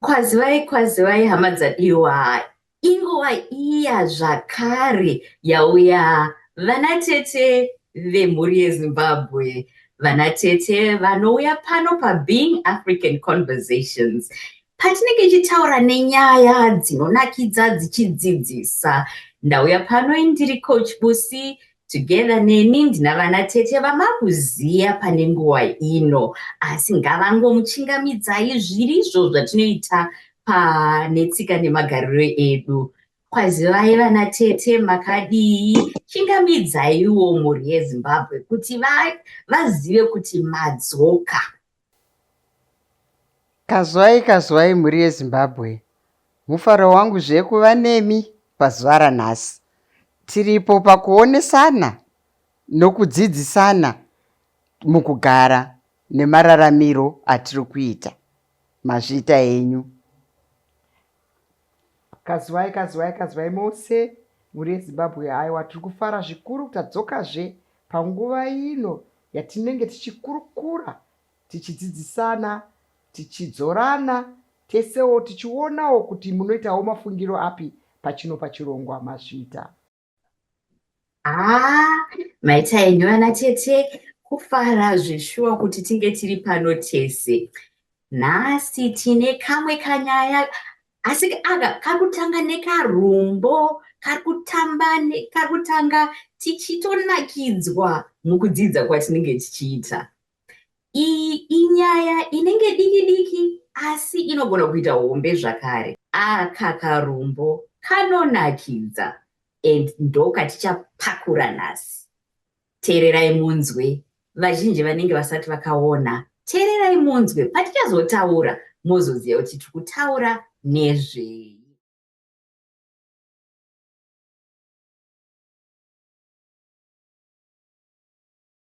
kwazivai kwazivai hama dzadiwa inguva iya zvakare yauya vanatete vemhuri yezimbabwe vanatete vanouya pano pabeing african conversations Patinenge tichitaura nenyaya dzinonakidza dzichidzidzisa, ndauya pano indiri Coach Busi together neni ndina vana tete vamakuziya pane nguva ino asi ngavangomuchingamidzai zvirizvo zvatinoita panetsika nemagariro edu kwazivai vana tete makadii chingamidzaiwo mhuri yezimbabwe kuti vazive kuti madzoka Kazwai kazwai mhuri yeZimbabwe. Mufaro wangu zve kuva nemi pazuva ranhasi. Tiripo pakuonesana nokudzidzisana mukugara nemararamiro atiri kuita. Mazviita enyu. Kazivai kazivai kazivai mose mhuri yezimbabwe haiwa tiri kufara zvikuru tadzokazve panguva ino yatinenge tichikurukura tichidzidzisana tichidzorana tesewo tichionawo kuti munoitawo mafungiro api pachino pachirongwa mazvita haa maita enyu vana tete kufara zveshuwa kuti tinge tiri pano tese nhasi tine kamwe kanyaya asi aka kari kutanga nekarumbo kari kutamba kari kutanga tichitonakidzwa mukudzidza kwatinenge tichiita Iyi inyaya inenge diki diki asi inogona kuita hombe zvakare. Aka karumbo kanonakidza and ndokatichapakura nhasi. Teererai munzwe, vazhinji vanenge vasati vakaona. Teererai munzwe, patichazotaura mozoziva kuti tiri kutaura nezvei.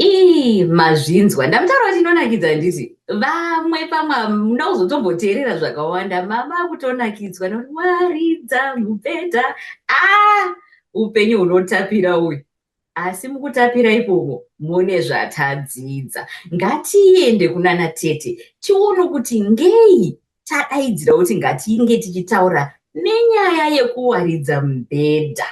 ii mazvinzwa ndamutaura kuti inonakidza handiti vamwe pamwe hamuna kuzotomboteerera zvakawanda mama akutonakidzwa nokuti waridza mubhedha a ah, upenyu hunotapira uyu asi mukutapira ipomo mune zvatadzidza ngatiende kunana tete tione kuti ngei tadaidzira kuti ngatinge tichitaura nenyaya yekuwaridza mubhedha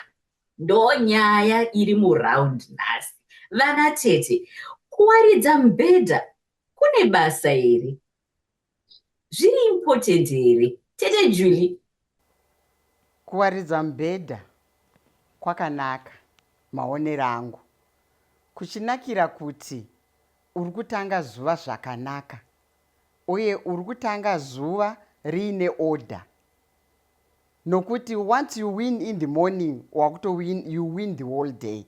Ndonyaya iri muround nhasi. Vana tete, kuwaridza mubhedha kune basa here? Zviri important here? Tete Julie. Kuwaridza mubhedha kwakanaka maonero angu. Kuchinakira kuti uri kutanga zuva zvakanaka uye uri kutanga zuva riine order. nokuti once you win in the morning wakuto win you win the whole day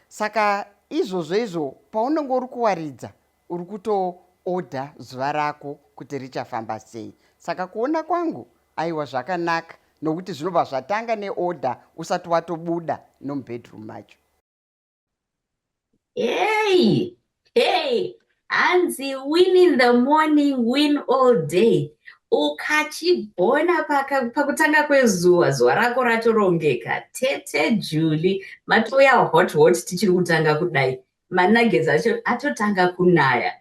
saka izvozvo izvo paunenge uri kuwaridza uri kuto order zuva rako kuti richafamba sei saka kuona kwangu aiwa zvakanaka nokuti zvinobva zvatanga neorder usati watobuda nomubedroom macho Hey, hey, hanzi win in the morning, win all day. Ukachigona pakutanga kwezuva, zuva rako ratorongeka. Tete Juli, matouya hot hot tichiri kutanga kudai. Managets acho atotanga kunaya.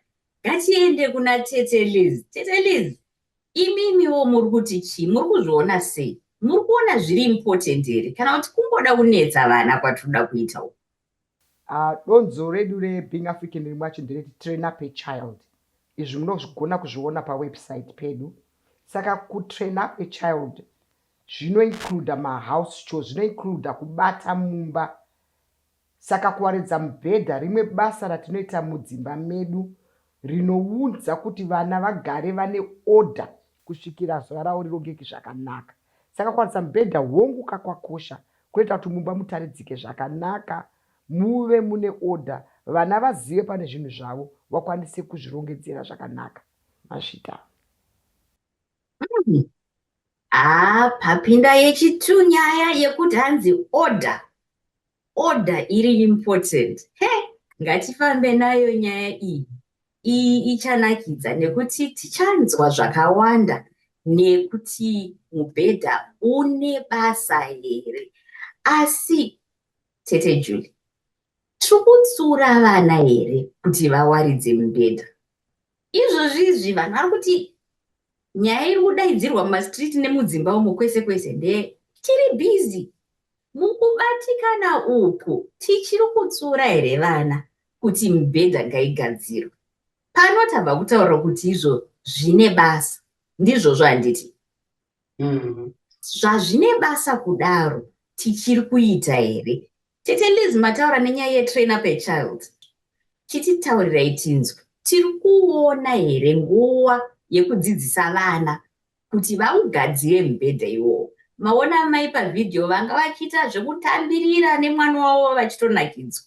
Ngatiende kuna Tete Liz. Tete Liz, Imimiwo muri kuti chii? Muri kuzviona sei? Muri kuona zviri important here kana kuti kungoda kunetsa vana kwatiri kuda kuita uku? Uh, donzo redu reBeing African riri mwacho ndereti train up a child. Izvi munozvigona kuzviona pawebsite pedu. Saka kutrain up a child zvinoincluda mahouse chores, zvinoincluda kubata mumba Saka kuwaridza mubhedha rimwe basa ratinoita mudzimba medu rinounza kuti vana vagare vane oda kusvikira zuva ravo rirongeke zvakanaka. Saka kuwaridza mubhedha hongu ka kwakosha kunoita kuti mumba mutaridzike zvakanaka, muve mune oda, vana vazive pane zvinhu zvavo, vakwanise kuzvirongedzera zvakanaka. Mashita. Mm. Ah, papinda yechitu nyaya yekuti hanzi order Order iri important. He! Ngatifambe nayo nyaya iyi. Iyi ichanakidza nekuti tichanzwa zvakawanda nekuti mubhedha une basa here. Asi tete Julie tiri kutsura vana here kuti vawaridze mubhedha Izvozvi izvi vanhu vari kuti nyaya iri kudaidzirwa mumastreet nemudzimba umo kwese kwese ndeye tiri busy mukubatikana uku tichiri kutsura here vana kuti mibhedha ngaigadzirwe pano tabva kutaura kuti izvo zvine basa ndizvozvo handiti mm. zvazvine basa kudaro tichiri kuita here tete liz mataura nenyaya yetrain up a child chititaurirai tinzwe tiri kuona here nguva yekudzidzisa vana kuti vaugadzire mubhedha iwowo maona amai pavhidhiyo vanga vachiita zvekutambirira nemwana wavo vachitonakidzwa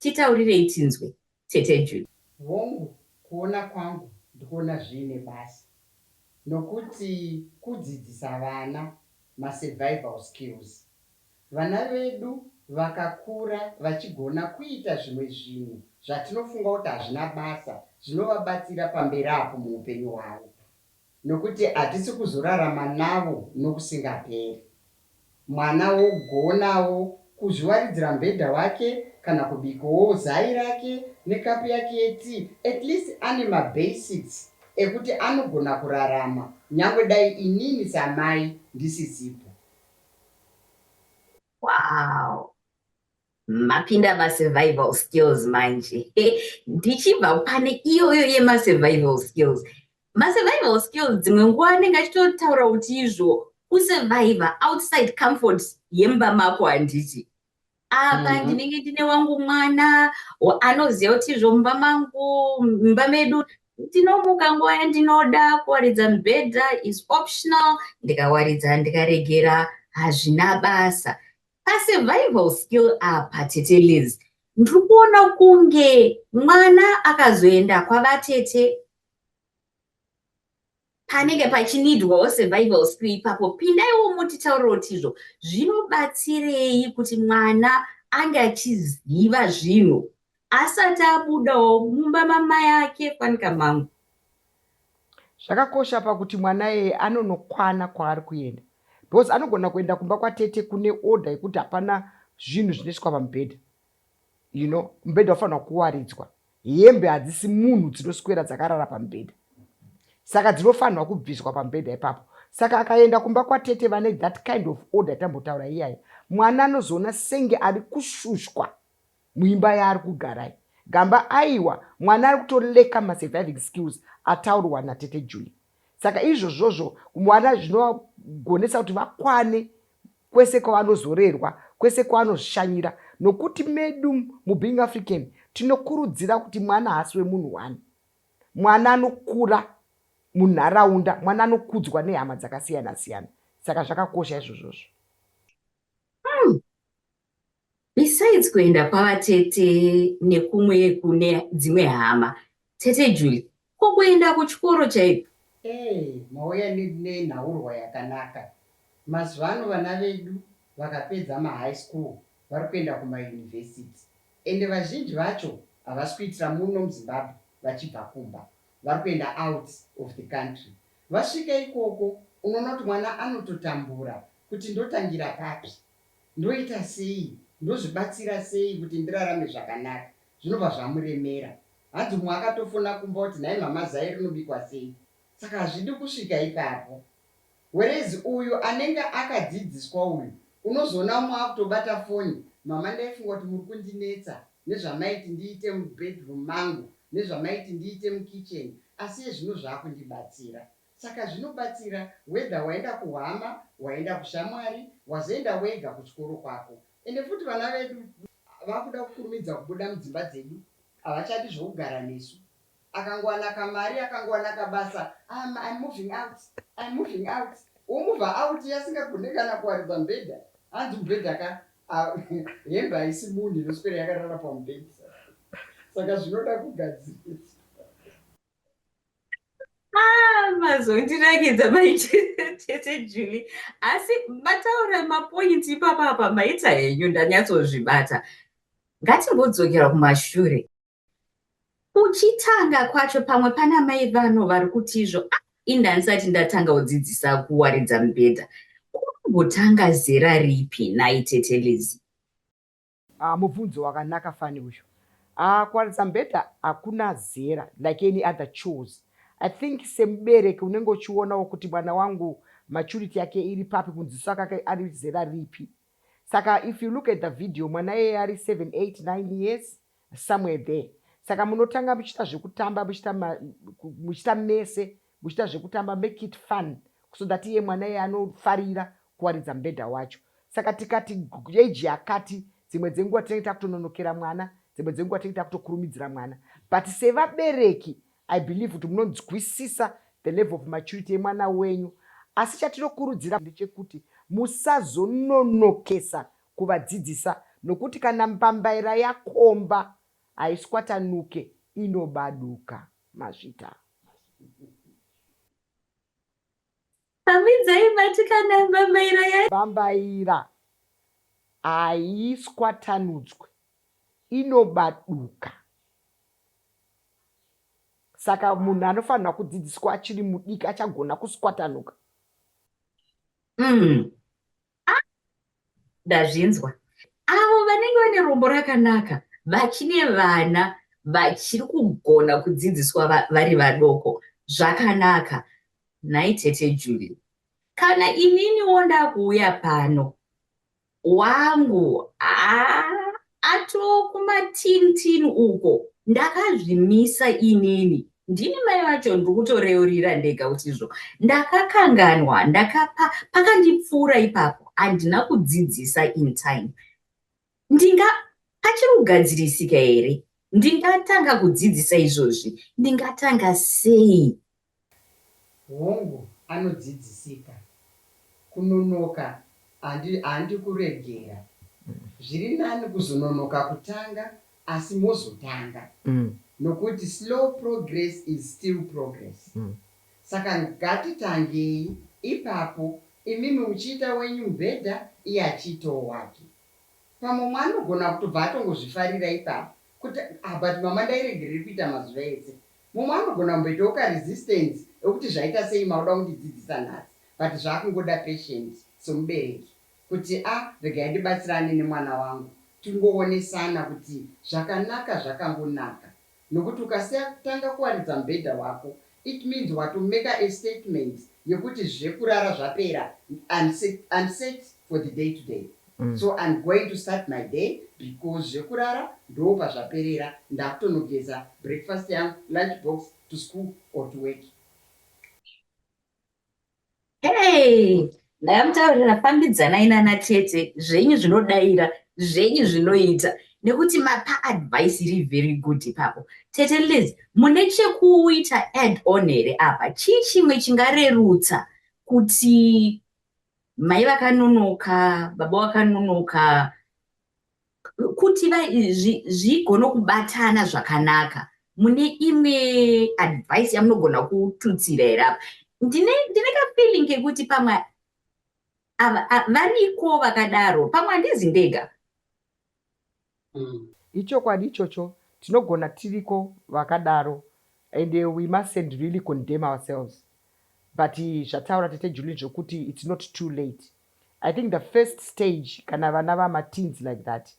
titaurirei tinzwe tete Judy. Hongu kuona kwangu ndikuona zviine basa nokuti kudzidzisa vana ma survival skills. Vana vedu vakakura vachigona kuita zvimwe zvinhu zvatinofunga kuti hazvina basa zvinovabatsira pamberi apo muhupenyu hwavo. Nokuti hatisi kuzorarama navo nokusingaperi. Mwana wogonawo kuzviwaridzira mubhedha wake kana kubikawo zai rake nekapu yake yetii, at least ane mabasics ekuti anogona kurarama nyangwe dai inini samai ndisisipo. Wow! mapinda masurvival skills manje ndichibva pane iyoyo yemasurvival skills masurvival skills dzimwe nguva anenge achitotaura kuti izvo kusurviva outside comfort yemba mako handiti apa mm -hmm. ndinenge ndine wangu mwana anoziva kuti izvo mumba mangu mumba medu ndinomuka nguva yandinoda kuwaridza mubhedha is optional ndikawaridza ndikaregera hazvina basa Pa survival skill apa tete Liz ndiri kuona kunge mwana akazoenda kwavatete panenge pachinidwawo survival skill ipapo pindaiwo motitaurira kuti izvo zvinobatsirei kuti mwana ange achiziva zvinhu asati abudawo mumba mamai ake fanika mangu zvakakosha pakuti mwana eye anonokwana kwaari kuenda because anogona kuenda kumba kwatete kune order yekuti hapana zvinhu zvinoiswa pamubhedha you know mubhedha ufanirwa kuwaridzwa hembe hadzisi munhu dzinoswera dzakarara pamubhedha saka dzinofanirwa kubviswa pamubhedha ipapo saka akaenda kumba kwatete vane that kind of order tambotaura iyaya mwana anozoona senge ari kushushwa muimba yaari kugara iyi Gamba aiwa mwana ari kuto lacker ma surviving skills ataurwa na tete Julie saka izvozvozvo mwana zvinovagonesa kuti vakwane kwese kwavanozorerwa kwese kwavanozvishanyira nokuti medu mu being African tinokurudzira kuti mwana haasi wemunhu one mwana anokura munharaunda mwana anokudzwa nehama dzakasiyana siyana saka zvakakosha izvozvozvo Besides kuenda kwava tete nekumwe kune dzimwe hama. Tete Julie, ko kuenda kuchikoro chaiko? Hey mauya nenhaurwa yakanaka. Mazuva ano vana vedu vakapedza mahigh school vari kuenda kumauniversity ende vazhinji vacho havasi kuitira muno muZimbabwe vachibva kumba vari kuenda out of the country. Vasvika ikoko unoona kuti mwana anototambura kuti ndotangira papi. Ndoita sei? Ndozvibatsira sei kuti ndirarame zvakanaka? Zvinobva zvamuremera. Hanzi umwe akatofona kumba oti nhai mhamha zai rinobikwa sei? Saka hazvidi kusvika ipapo. Whereas uyu anenge akadzidziswa uyu unozoona umwe akutobata foni mhamha ndaifunga kuti muri kundinetsa nezvamaiti ndiite mubedroom mangu nezvamaiti ndiite mukitchen asi iye zvino zvaakundibatsira. Saka zvinobatsira whether waenda kuhama, waenda kushamwari, wazoenda wega kuchikoro kwako. Ende futi vana vedu vakuda kukurumidza kubuda mudzimba dzedu, havachadi zvokugara nesu. Akangowana kamari, akangowana kabasa, I'm, I'm moving out, I'm moving out. Womover out iye asingagone kana kuwaridza mubhedha. Hanzi mubhedha ka, hembe haisi munhu inoswera yakarara pamubhedha. Saka zvinoda kugadziriswa. Ah, mazondirakidza maitete juli asi mataura mapointi ipapa apa maita henyu ndanyatsozvibata ngatimbodzokera kumashure kuchitanga kwacho pamwe pana mai vano vari kuti izvo ah, indanisati ndatanga kudzidzisa kuwaridza mubhedha kumbotanga zera ripi naitete lizii Haa mubvunzo wakanaka fani uyu. Haa kuwaridza mubhedha hakuna zera like any other chores. I think semubereki unenge uchionawo kuti mwana wangu maturity yake iri papi kunziso akake ari zera ripi. Saka if you look at the video mwana iyeye ari seven, eight, nine years somewhere there. Saka munotanga muchiita zvekutamba muchiita muchiita mese. muchiita zvekutamba make it fun so that iye mwana iye anofarira kuwaridza mubhedha wacho saka tikati age yakati dzimwe dzenguva tinenge takutononokera mwana dzimwe dzenguva tinenge takutokurumidzira mwana but sevabereki i believe kuti munonzwisisa the level of maturity yemwana wenyu asi chatinokurudzira ndechekuti musazononokesa kuvadzidzisa nokuti kana mbambaira yakomba haiswatanuke inobaduka Mazvita. Hamidzai batikana mbambaira ya. Mbambaira haiswatanudzwe inobaduka saka munhu anofanirwa kudzidziswa achiri mudiki achagona kuswatanuka. Mm. ah, ndazvinzwa avo vanenge vane rombo rakanaka vachine vana vachiri kugona kudzidziswa vari vadoko zvakanaka nhai tete juli kana ininiwo ndakuuya pano wangu aa ah, Ato kumatin tin uko ndakazvimisa inini ndini mai vacho ndiri kutoreurira ndega kuti izvo ndakakanganwa ndakapa pakandipfuura ipapo handina kudzidzisa in time ndinga pachiri kugadzirisika here ndingatanga kudzidzisa izvozvi ndingatanga sei Hongu, anodzidzisika. Kunonoka handi, handi kuregera. Zviri nani kuzononoka kutanga asi mozotanga nokuti slow progress is still progress. Saka ngatitangei ipapo imimi muchiita wenyu mubhedha iye achiitawo wake. Pamwe umwe anogona kutobva atongozvifarira ipapo kuti, ah but mama ndairegerei kuita mazuva ese Mumwe anogona kumboitawo ka resistance ekuti zvaita sei makuda kundidzidzisa nhasi but zvakungoda patient semubereki kuti a regai ndibatsirane nemwana wangu tingoonesana kuti zvakanaka zvakangonaka nokuti ukasiya kutanga kuwaridza mubhedha wako it means wato maker a statement yekuti zvekurara zvapera and set and set for the day to day. So I'm going to start my day because zvekurara ndoopazvaperera ndakutonogeza breakfast yangu lunch box to school or to work. Hey! Ndakamutaurira fambidzanai nana tete zvenyu zvinodaira zvenyu zvinoita nekuti mapa advice iri very good ipapo tete liz mune chekuita add on here apa chii chimwe chingarerutsa kuti mai vakanonoka baba vakanonoka kuti zvigone zvi, kubatana zvakanaka mune imwe advice yamunogona kututsira here apa ndine, ndine kafeeling kekuti pamwe variko vakadaro pamwe handizi ndega Ichokwadi ichocho tinogona tiriko vakadaro and we mustn't really condemn ourselves but zvataura tete Juline zvekuti it's not too late I think the first stage kana vana vama teens like that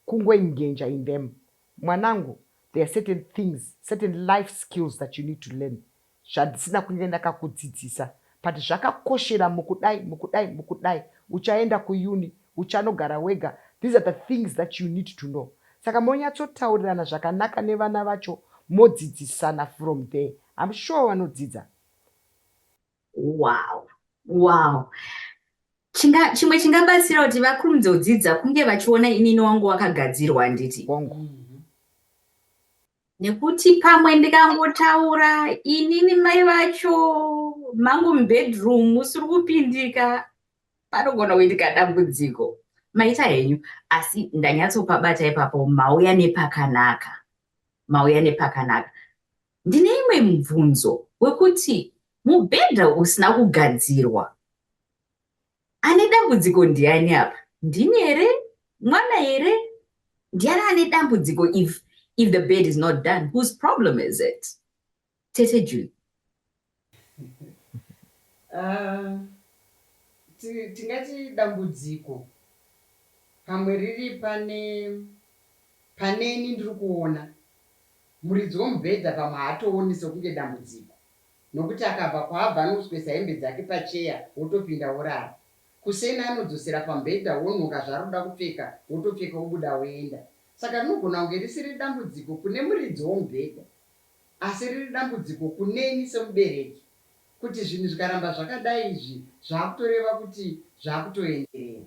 kungoengenja in them mwanangu there are certain things certain life skills that you need to learn zvandisina kunge ndakakudzidzisa but zvakakoshera mukudai mukudai mukudai uchaenda kuUni uchanogara wega these are the things that you need to know saka monyatsotaurirana zvakanaka nevana vacho modzidzisana from there I'm sure vanodzidza Wow wow Chinga, chimwe chingabatsira kuti vakurumidze kudzidza kunge vachiona inini wangu wakagadzirwa handiti wangu nekuti pamwe ndikangotaura inini mai vacho mangu mubedroom usiri kupindika panogona kuitika dambudziko maita henyu asi ndanyatsopabata ipapo mauya nepakanaka mauya nepakanaka ndine imwe mubvunzo wekuti mubhedha usina kugadzirwa Ane dambudziko ndiani apa? Ndini here? Mwana here? Ndiani ane dambudziko if if the bed is not done whose problem is it? Tete Julie. Ah, tingati dambudziko pamwe riri pane paneni ndiri kuona muridzi womubhedha pamwe haatooni sekunge dambudziko Nokuti akabva kwaabva anoswesa hembe dzake pacheya wotopinda worara. Kuseni anodzosera pamubhedha wonhoka zvaarikuda kupfeka wotopfeka wobuda woenda. Saka rinogona kunge risiri dambudziko kune muridzi womubhedha asi riri dambudziko kuneni semubereki kuti zvinhu zvikaramba zvakadai izvi zvakutoreva kuti zvakutoenderera.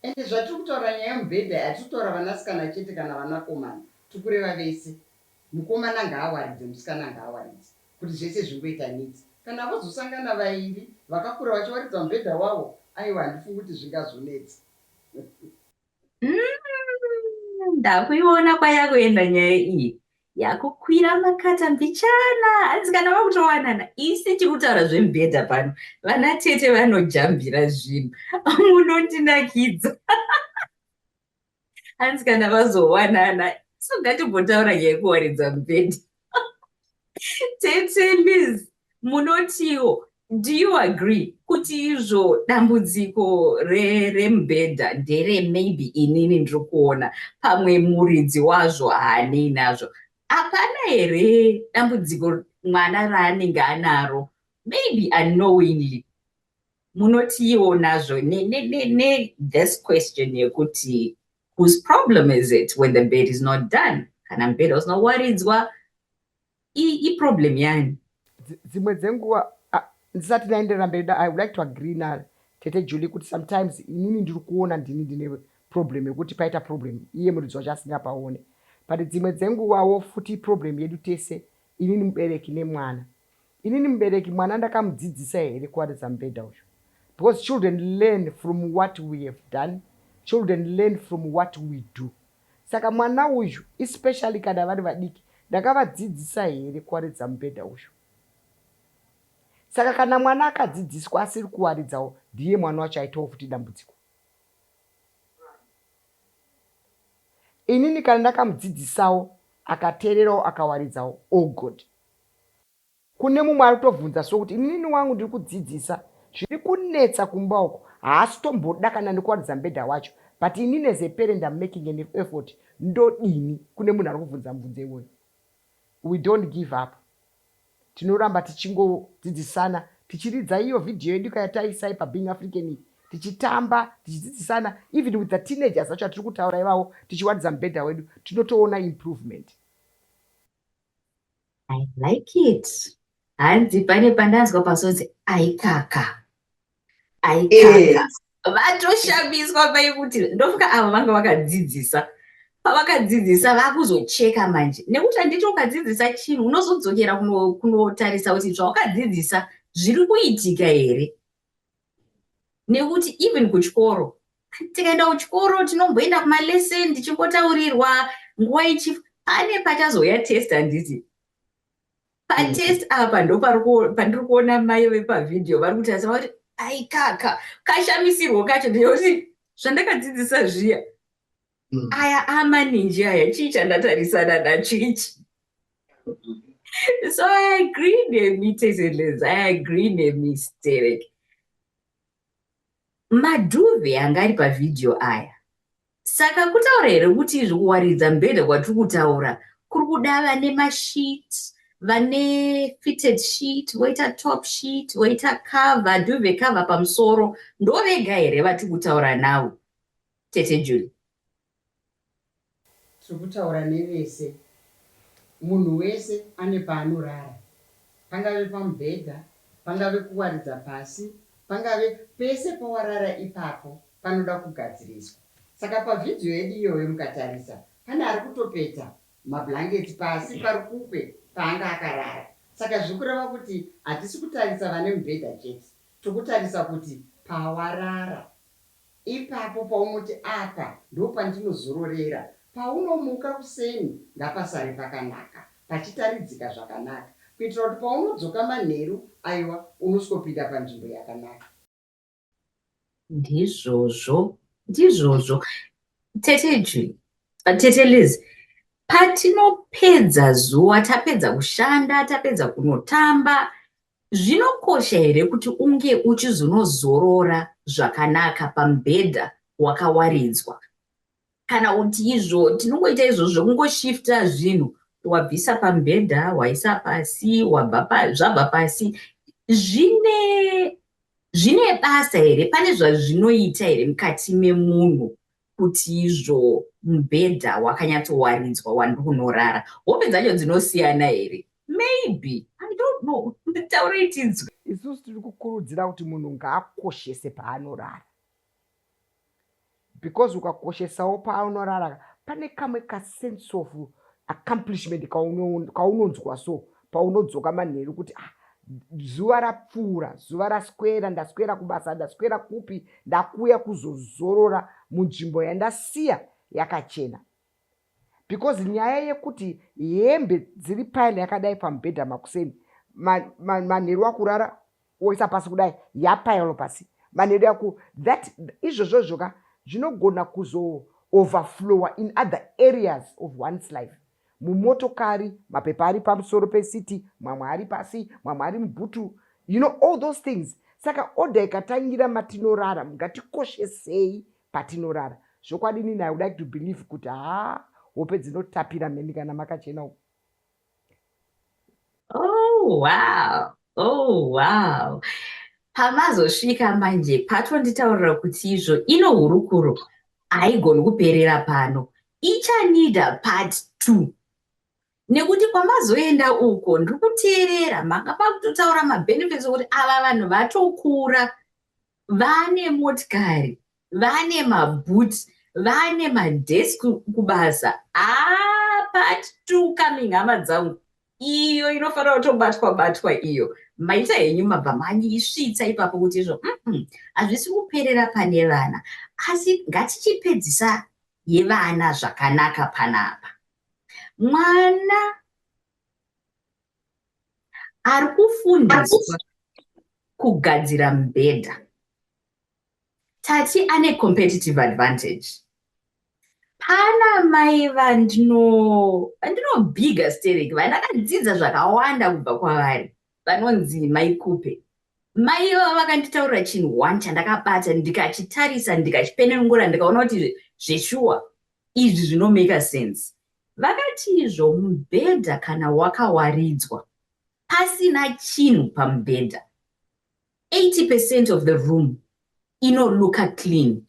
Ende zvatiri kutaura nyaya yemubhedha hatiri kutaura vanasikana chete kana vanakomana tiri kureva vese. Mukomana ngaawaridze musikana ngaawaridze kuti zvese zvingoita neat. Kana vozosangana vairi vakakura vachiwaridza mubhedha wavo aiwa handifungi kuti zvingazonetsa. Umm ndakuiona kwayakuenda nyaya iyi. Yakukwira makata mbichana hanzi kana vakutowanana isi chikutaura zvemubhedha pano vana tete vanojambira zvinhu munondinakidza. hanzi kana vazowanana so ngatimbotaura nyaya yekuwaridza mubhedha tete liz munotiwo do you agree kuti izvo dambudziko remubhedha re ndere maybe inini ndiri kuona pamwe muridzi wazvo haanei nazvo hapana here dambudziko mwana raanenge anaro maybe unknowingly Munotiiwo nazvo ne, ne, ne, ne this question yekuti whose problem is it when the bed is not done kana mubhedha usina kuwaridzwa iproblem yani dzimwe dzenguva ndisati ndaenderera mberi i would like to agree na tete julie kuti sometimes inini ndiri kuona ndini ndine problem yekuti paita problem iye muridzi wacho asingapaone but dzimwe dzenguvawo futi problem yedu tese inini mubereki nemwana Inini mubereki mwana ndakamudzidzisa here kuwaridza mubhedha uyu because children learn from what we have done, children learn from what we do. Saka mwana uyu especially kana vari vadiki ndakavadzidzisa here kuwaridza mubhedha uyu? Saka kana mwana akadzidziswa asiri kuwaridzawo ndiye mwana wacho aitawo futi dambudziko. Inini kana ndakamudzidzisawo akateererawo akawaridzawo, oh God, Kune mumwe ari kutobvunza so kuti inini wangu ndiri kudzidzisa zviri kunetsa kumba uko haasi tomboda kana nekuwaridza mubhedha wacho but inini as a parent I'm making an effort ndodini kune munhu ari kubvunza mubvunzo iwoyo we don't give up tinoramba tichingodzidzisana tichiridza iyo video yedu ka yataisai pabeing african iyi tichitamba tichidzidzisana even with the teenagers acho atiri kutaura ivawo tichiwaridza mubhedha wedu tinotoona improvement I like it. Hanzi pane pandanzwa pasonzi aikaka. Aikaka. Eh. Vatoshamiswa pai kuti ndofuka avo vanga vakadzidzisa. Pavakadzidzisa vakuzocheka manje. Nekuti handiti ukadzidzisa chinhu unozodzokera kunotarisa kuti zvawakadzidzisa zviri kuitika here. nekuti even kuchikoro tikaenda kuchikoro tinomboenda kumalesson tichimbotaurirwa nguva ichi pane pachazouya test handiti patest mm. apa ndo pandiri kuona mai vepavhidhiyo vari kutarisa vakuti aikaka kashamisirwo kacho ndiyoti zvandakadzidzisa zviya mm. aya amaninji aya chii chandatarisana nacho ichi so i agree nemi tezelez i agree nemi sterek madhuve anga ari pavhidhiyo aya saka kutaura here kuti izvi kuwaridza mbhedha kwatiri kutaura kuri kuda vane masheet vane fitted sheet voita top sheet voita cover duve cover pamusoro ndovega here vatiri kutaura navo tete Julie. Tiri kutaura nevese. Munhu wese ane paanorara. Pangave pamubhedha, pangave kuwaridza pasi, pangave pese pawarara ipapo panoda kugadziriswa. Saka pavideo yedu iyoyo mukatarisa pane ari kutopeta mablankets pasi parukukwe paanga akarara. Saka zviri kureva kuti hatisi kutarisa vane mubhedha chete, tiri kutarisa kuti pawarara. Ipapo paunoti apa ndopandinozororera, paunomuka kuseni ngapasare pakanaka, pachitaridzika zvakanaka kuitira kuti paunodzoka manheru, aiwa, unosvikopinda panzvimbo yakanaka. Ndizvozvo, ndizvozvo, Tete Jwi, Tete Liz. Patinopedza zuva, tapedza kushanda, tapedza kunotamba, Zvinokosha here kuti unge uchizonozorora zvakanaka pamubhedha wakawaridzwa? Kana kuti izvo tinongoita izvo zvekungoshifta zvinhu, wabvisa pamubhedha, waisa pasi, wabva pa, zvabva pasi, zvine zvine basa here? Pane zvazvinoita here mukati memunhu kuti izvo mubhedha wakanyatsowaridzwa wandiri kunorara hope dzacho dzinosiyana here maybe i don't know nditaurei tinzwe isusu tiri kukurudzira kuti munhu ngaakoshese paanorara because ukakoshesawo paanorara pane kamwe kasense of accomplishment kaunonzwa so paunodzoka manheru kuti ah, zuva rapfuura zuva raswera ndaswera kubasa ndaswera kupi ndakuya kuzozorora munzvimbo yandasiya yakachena because nyaya yekuti hembe dziri pile yakadai pamubhedha makuseni manheru akurara woisa pasi kudai yapailo pasi manedo yako that izvozvo zvoka zvinogona kuzo overflowa in other areas of one's life mumotokari mapepa ari pamusoro pesiti mamwe ari pasi mamwe ari mubhutu you know all those things saka order ikatangira matinorara mungatikoshesei patinorara zvokwadini naye would like to believe kuti haa hope dzinotapira mheni kana makachena uku Oh, wow. Oh, wow. Pamazosvika manje patonditaurira kuti izvo ino hurukuro haigoni kuperera pano. Ichanida part two. Nekuti kwamazoenda uko ndiri kuteerera manga pakutotaura mabenefits okuti ava vanhu vatokura vane motikari vane maboot vane madesk kubasa ah, part two coming hama dzangu iyo inofanira kutobatwa batwa iyo maita henyu mabva manyisvitsa ipapo kuti izvo hazvisi mm -mm, kuperera pane vana asi ngatichipedzisa yevana zvakanaka panapa mwana ari kufundiswa kugadzira mubhedha tati ane competitive advantage pana mai vandinobiga sterek vandakadzidza zvakawanda kubva kwavari vanonzi mai kupe mai ivavo vakanditaurira chinhu one chandakabata ndikachitarisa ndikachipenengura ndikaona kuti zveshuwa izvi zvinomaka sense Vakatizvo mubhedha kana wakawaridzwa pasina chinhu pamubhedha 80 percent of the room inoluka clean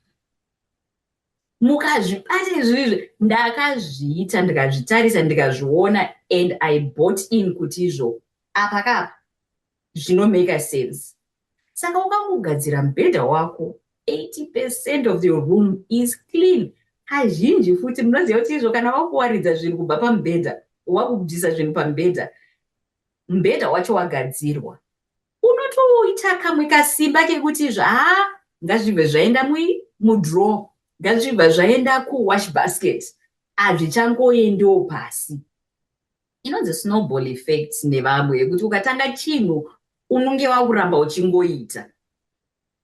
mukazvibata izvizvi ndakazviita ndikazvitarisa ndikazviona and i bought in kuti izvo apa kapa zvinomaker sense saka wakangogadzira mubhedha wako 80 percent of your room is clean kazhinji futi munoziva kuti izvo kana wakuwaridza zvinhu kubva pamubhedha wakubvisa zvinhu pamubhedha mubhedha wacho wagadzirwa unotoita kamwe kasimba kekuti zvaa ngazvibve zvaenda mudraw ngazvibva zvaenda kuwash basket hazvichangoendiwo pasi Inonzi snowball effect nevamwe yekuti ukatanga chinhu unenge wakuramba uchingoita.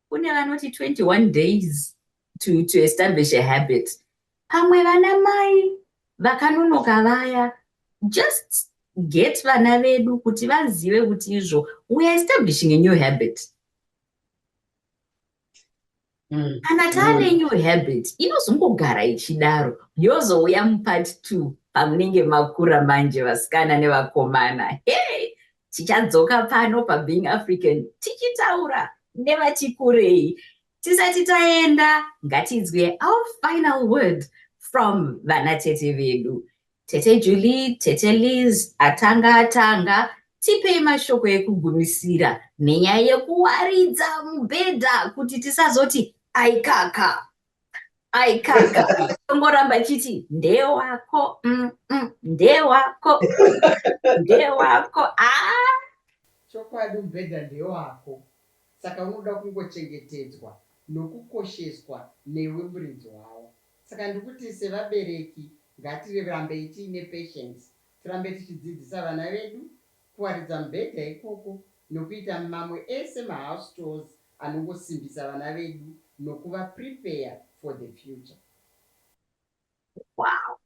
Kune vanoti 21 days to, to establish a habit. Pamwe vana mai vakanonoka vaya just get vana vedu kuti vazive kuti izvo we are establishing a new habit. mm. kana taane mm. new habit inozongogara ichidaro yozouya mupart two pamunenge makura manje vasikana nevakomana hey tichadzoka pano pabeing african tichitaura nevati kurei tisati taenda ngatinzwe our final word from vanatete vedu Tete Julie, Tete Liz, atanga atanga, tipei mashoko ekugumisira nenyaya yekuwaridza mubhedha kuti tisazoti aikaka aikaka tongoramba chiti ndewako mm, mm, ndewako ndewako ah! chokwadi mubhedha ndewako saka unoda kungochengetedzwa nokukosheswa newe muridzi wawo Saka ndikuti sevabereki ngatirambei tiine patience tirambe tichidzidzisa vana vedu kuwaridza mubhedha ikoko nokuita mamwe ese mahouse chores anongosimbisa vana vedu nokuva prepare for the future. Wow.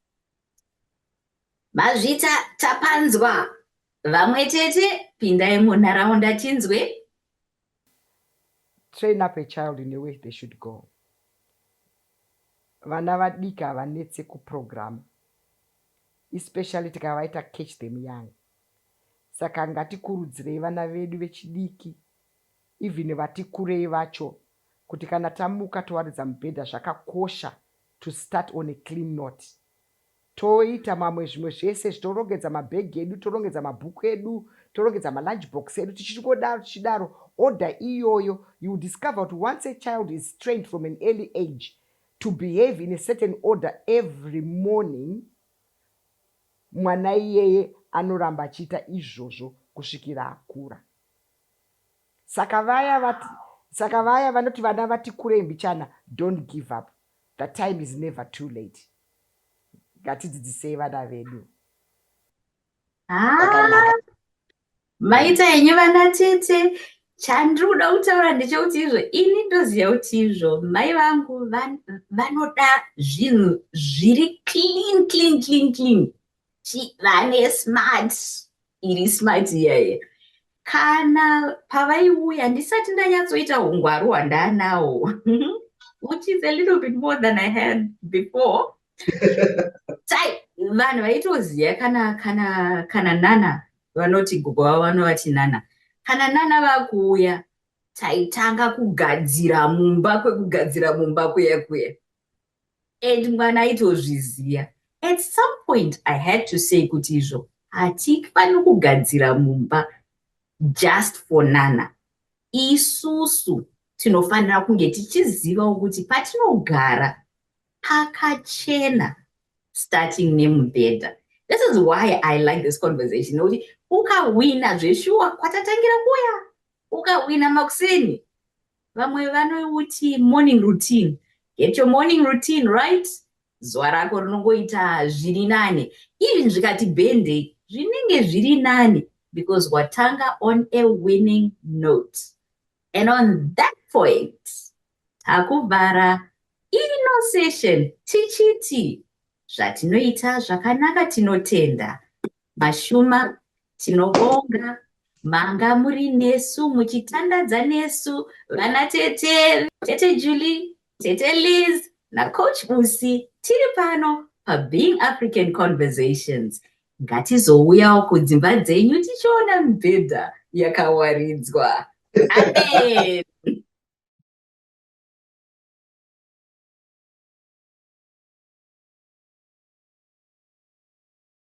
Mazvita tapanzwa. Vamwe tete pindai munharaunda tinzwe. train up a child in a way they should go vana vadiki havanetse kuprogram especially tikavaita catch them young saka ngatikurudzirei vana vedu vechidiki even vati kurei vacho kuti kana tamuka towaridza mubhedha zvakakosha to start on a clean note Toita mamwe zvimwe zvese zvitorongedza mabhegi edu, torongedza mabhuku edu, torongedza malunch box edu tichingodaro tichidaro order iyoyo you will discover kuti once a child is trained from an early age to behave in a certain order every morning mwana iyeye anoramba achiita izvozvo kusvikira akura. Saka vaya vati saka vaya vanoti vana vati kurei mbichana don't give up. The time is never too late. Ngatidzidzisei vana vedu. Ah, maita henyu vana tete. Chandiri kuda kutaura ndechekuti izvo ini ndoziva kuti izvo mai vangu vanoda zvinhu zviri clean clean clean clean. vane smart iri smart iyaye kana pavaiuya ndisati ndanyatsoita hungwaru hwandaanawo which is a little bit more than i had before tai vanhu vaitoziva kana kana kana nana vanoti gogo vavo vanovati nana kana nana vakuuya taitanga kugadzira mumba kwekugadzira mumba kuya kuya and mwana aitozviziva at some point i had to say kuti izvo hatifani kugadzira mumba just for nana isusu tinofanira kunge tichizivawo kuti patinogara pakachena starting nemubhedha this is why i like this conversation nekuti ukahwina zveshuwa kwatatangira kuya ukahwina makuseni Vamwe vanouti morning routine. Get your morning routine right. Zuva rako rinongoita zviri nane. Even zvikati bhende zvinenge zviri nane because watanga on a winning note. And on that point, takuvhara ino session tichiti zvatinoita zvakanaka tinotenda Mashuma tinobonga manga muri nesu muchitandadza nesu vana tete tete Julie tete Liz nacoach Busi tiri pano paBeing African Conversations ngatizouyawo kudzimba dzenyu tichiona mibhedha yakawaridzwa amen